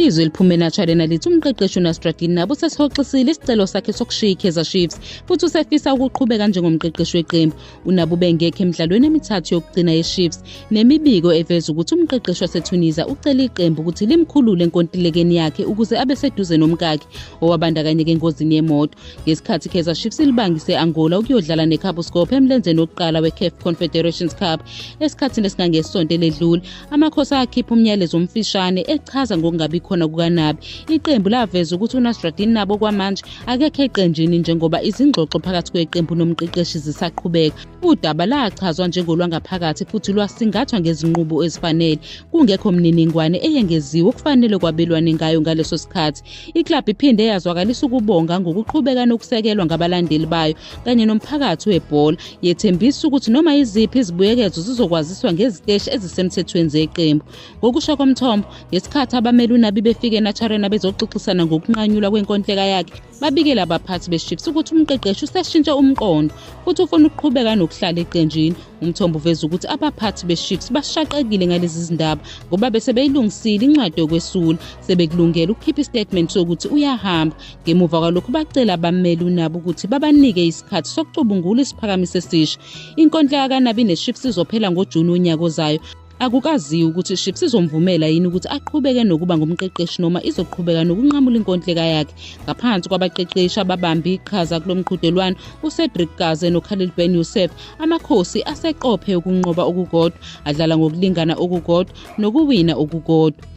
izwi eliphume enatshalena lithi umqeqeshi unastradin nabo sesihoxisile isicelo sakhe sokushiya ikaizer chiefs futhi usefisa ukuqhubeka njengomqeqeshi weqembu unabo ubengekho emidlalweni emithathu yokugcina yechiefs nemibiko eveza ukuthi umqeqeshi wasetunisia ucele iqembu ukuthi limkhulule enkontilekeni yakhe ukuze abe seduze nomkakhe owabandakanyeka engozini yemoto ngesikhathi kaizer chiefs ilibangise angola ukuyodlala necabo scope emlenzeni wokuqala wecaf confederations cup esikhathini esingangesonto eledlule amakhosi akhipha umyalezo omfishane echaza ngokungabi khona kukanabi iqembu laveza ukuthi unasradin nabo kwamanje akekho eqenjini njengoba izingxoxo phakathi kweqembu nomqeqeshi zisaqhubeka udaba lachazwa njengolwangaphakathi futhi lwasingathwa ngezinqubo ezifanele kungekho mniningwane eyengeziwe okufanele kwabelwane ngayo ngaleso sikhathi Iklabhu iphinde yazwakalisa ukubonga ngokuqhubeka nokusekelwa ngabalandeli bayo kanye nomphakathi webhola, yethembisa ukuthi noma iziphi izibuyekezo zizokwaziswa ngeziteshi ezisemthethweni zeqembu. Ngokusho komthombo, ngesikhathi abameli uNabi befike eNaturena bezoxoxisana ngokunqanyulwa kwenkontileka yakhe, babikele abaphathi beChiefs ukuthi umqeqeshi useshintshe umqondo futhi ufuna ukuqhubeka nokuhlala eqenjini. Umthombo uveza ukuthi abaphathi beShips bashaqekile ngalezi zindaba ngoba bese beyilungisile incwadi yokwesula sebekulungela ukukhipha istatement sokuthi uyahamba ngemuva kwalokhu bacela abameli unabo ukuthi babanike isikhathi sokucubungula isiphakamiso esisha inkontileka kanabi neShips izophela ngoJuni wonyaka ozayo Akukaziwa ukuthi iShips izomvumela yini ukuthi aqhubeke nokuba ngumqeqeshi noma izoqhubeka nokunqamula inkontileka yakhe. Ngaphansi kwabaqeqeshi ababambe iqhaza kulo mqhudelwano uCedric Kaze noKhalil Ben Youssef, amakhosi aseqophe ukunqoba okukodwa, adlala ngokulingana okukodwa nokuwina okukodwa.